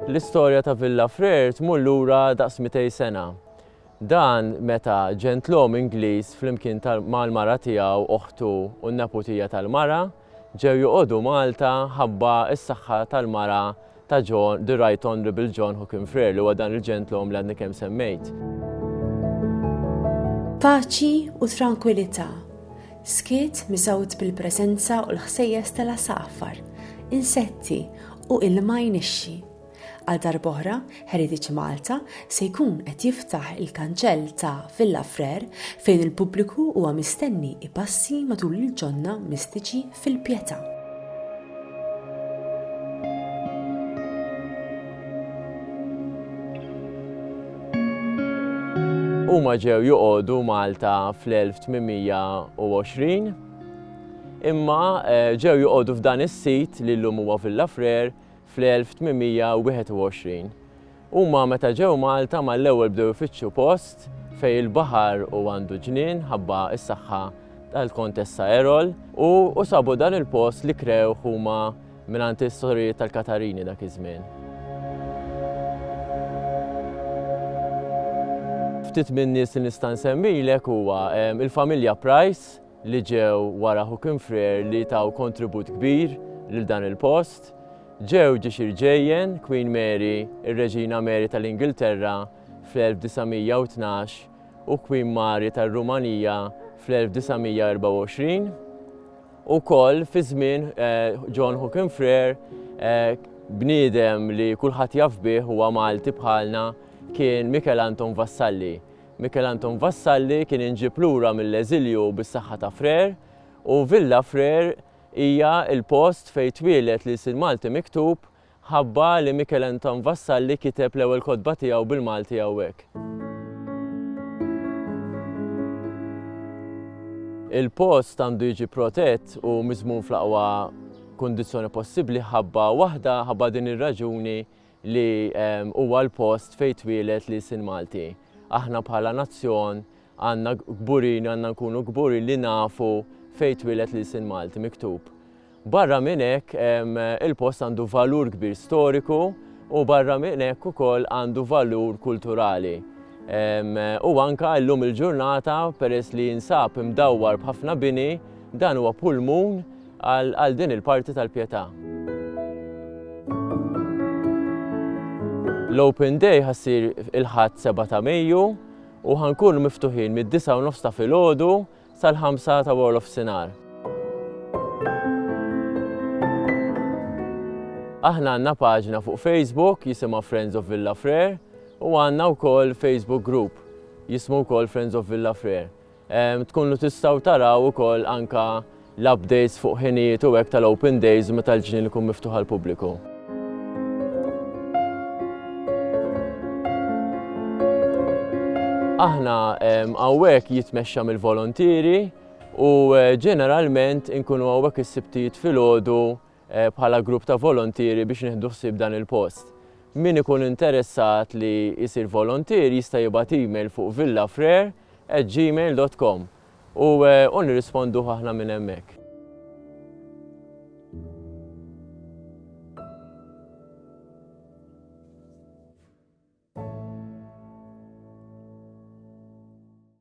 L-istorja ta' Villa Frere tmur lura daqs 200 sena. Dan meta ġentlom Ingliż flimkien mal-mara tiegħu, oħtu u n-neputija tal-mara ġew joqogħdu Malta ħabba s-saħħa tal-mara ta' John, the Right Honourable John Hookin Frere, li huwa dan il-ġentlom li għadni kemm semmejt. Paċi u trankwilità, skiet miżgħud bil-preżenza u l-ħsejjes tal-għasafar, insetti u ilma jnixxi. Għal darb'oħra, Heritage Malta se jkun qed jiftaħ il-kanċell ta' Villa Frere fejn il-pubbliku huwa mistenni ipassi matul il-ġonna mistiċi fil-Pietà. Huma ġew joqogħdu Malta fl-1820, imma eh, ġew joqogħdu f'dan is-sit li llum huwa Villa Frer fl-1821. Huma meta ġew Malta mal-ewwel bdew ifittxu post fejn il-baħar u għandu ġnien ħabba s-saħħa tal-Kontessa Erol u u sabu dan il-post li krewh huma mingħand is-sorijiet tal-Katarini dak iż-żmien. Ftit min-nies li nista' nsemmilek huwa il-familja Price, li ġew wara Ħu Kim Frere li taw kontribut kbir lil dan il-post, ġew ġiex irġejjen Queen Mary, ir-Reġina Mary tal-Ingilterra fl-1912 u Queen Mary tar-Rumanija fl-1924. Ukoll fi żmien John Ħu Kim Frere, bniedem li kulħadd jaf bih huwa Malti bħalna kien Mikel Anton Vassalli, Michel Anton Vassalli kien inġieb lura mill-eżilju bis-saħħa ta' Frère u Villa Frère hija l-post fejn twieled l-ilsien Malti miktub ħabba li Michel Anton Vassalli kiteb l-ewwel kotba tiegħu bil-Malti hawnhekk. Il-post għandu jiġi protett u miżmum fl-aqwa kundizzjoni possibbli ħabba waħda, ħabba din ir-raġuni li huwa l-post fejn twieled l-ilsien Malti. Aħna bħala nazzjon għandna kburin, għandna nkunu kburin li nafu fejn twieled l-ilsien Malti miktub. Barra minn hekk il-post għandu valur kbir storiku u barra minn hekk ukoll għandu valur kulturali. U anka llum il-ġurnata peress li jinsab imdawwar b'ħafna bini, dan huwa pulmun għal din il-parti tal-Pietà. L-Open Day ħassir il-ħadd 7 ta' Mejju u ħankunu miftuħin mid-disa' u nofs ta' filgħodu sal-ħamsa ta' wara l-ofsinhar. Aħna għandna paġna fuq Facebook jisimha Friends of Villa Frere u għandna wkoll Facebook group jismu wkoll Friends of Villa Frere. Tkunu tistgħu taraw ukoll anke l-updates fuq ħinijiet u hekk tal-open days meta l-ġnien ikun miftuħ għall-pubbliku. Aħna hawnhekk jitmexxa mill-volontieri u ġeneralment inkunu hawnhekk is-sibtijiet filgħodu bħala grupp ta' volontieri biex nieħdu ħsieb dan il-post. Min ikun interessat li jsir volontier jista' jibgħat email fuq villafrere@gmail.com u u nirrisponduh aħna minn hemmhekk.